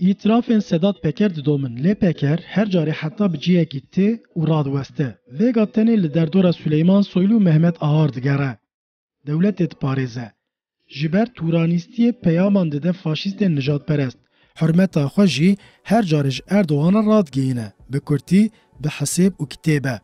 Îtirafên Sedat Peker didomin lê Peker her carê heta bi cihekî tê û radiweste. Vêga tenê li derdora Suleyman Soylu û Mehmet Ahar digere. Dewletê diparêze. Ji ber tûranîstiyê peyaman dide faşîstên nijadperest. Hurmeta xwe jî her carê ji Erdogan re radigihîne. Bi kurtî, bi hisêb û kitêbe.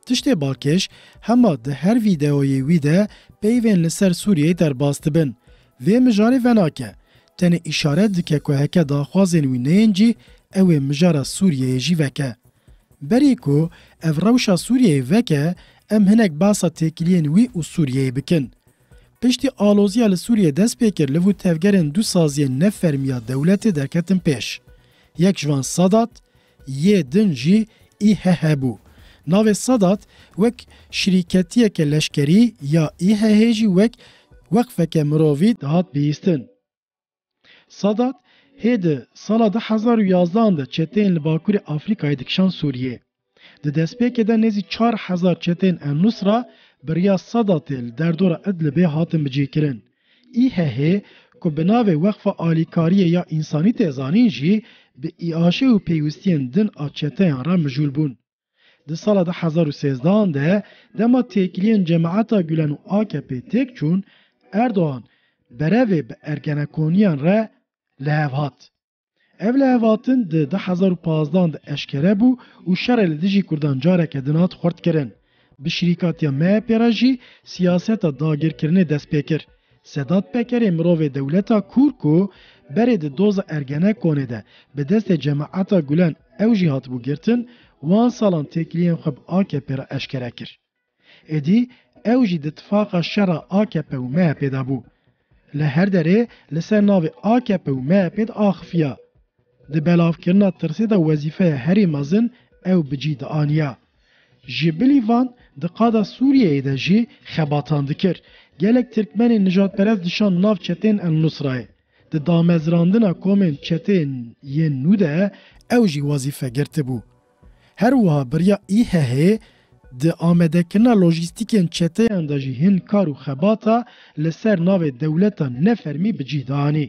Tiştê balkêş hema di her vîdeoyê wî de peyvên li ser Sûriyeyê derbas dibin. Vê mijarê venake. Tenê îşaret dike ku heke daxwazên wî neyên cîh ew ê mijara Sûriyeyê jî veke. Berî ku ev rewşa Sûriyeyê veke em hinek behsa têkiliyên wî û Sûriyeyê bikin. Piştî aloziya li Sûriyê dest pê kir li vû tevgerên du saziyên ne fermiya dewletê derketin pêş. Yek ji wan Sadat, Yê din jî İHH bû. Navê Sadat wek şirîketiyeke leşkerî ya İHH'ê jî wek weqfeke mirovî dihat bihîstin. Sadat hê di sala du hezar û yazdan de çeteyên li Bakurê Afrikayê dikişan Sûriyê. Di destpêkê de nêzî çar hezar çeteyên El-Nusra bi riya Sadatê li derdora Idlibê hatin bicihkirin. IHH, ku bi navê Weqfa Alîkariyê ya Însanî tê zanîn jî, bi îaşê û pêwîstiyên din a çeteyan re mijûl bûn. Di sala du hezar û sêzdeh an de, dema têkiliyên Cemaeta Gulen û akp têk çûn, Erdogan berevê bi ergenekoniyan re li hev hat. Ev lihevatin di du hezar û pazdeh de eşkere bû û şerê li dijî Kurdan careke din hat xurtkirin. Bi şirîkatiya MHP'ê re jî siyaseta dagirkirinê dest pê kir. Sedat Pekerê mirovê dewleta kûr ku berê di doza Ergenekonê de bi destê Cemaeta Gulen ew jî hatibû girtin, wan salan têkiliyên xwe bi AKP'ê re eşkere kir. Êdî ew jî di tifaqa şera akp û MHP'ê de bû. Li her derê li ser navê akp û MHP'ê di axifiya. Di belavkirina tirsê de wezîfeya herî mezin ew bi cî dianiya. Ji bilî van di qada Sûriyeyê de jî xebatan dikir. Gelek tirkmenên nijadperest dişand nav çetên El Nusrayê. Di damezrandina komên çetên yên nû de ew jî wezîfe girtibû. Her wiha biriya IHH'ê di amadekirina lojîstîkên çeteyan de jî hin kar û xebata li ser navê dewleta ne fermî bi cîh de anî.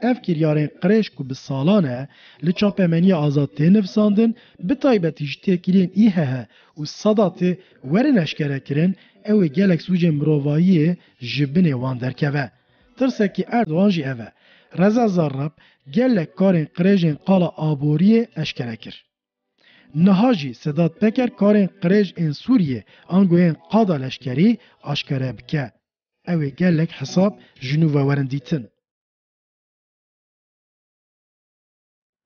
Ev kiryarên qirêj ku bi salan e li çapemeniya azad tê nivisandin bi taybetî ji têkiliyên IHH û Sedatê werin eşkerekirin ew ê gelek sûcên mirovahiyê ji binê wan derkeve. Tirsekî Erdogan jî ev e. Reza Zarrab gelek karên qirêjên qala aboriyê eşkere kir. Niha jî Sedat Peker karên qirêj ên Sûriyê ango yên qada leşkerî aşkere bike. Ew ê gelek hesab ji nû ve werin dîtin.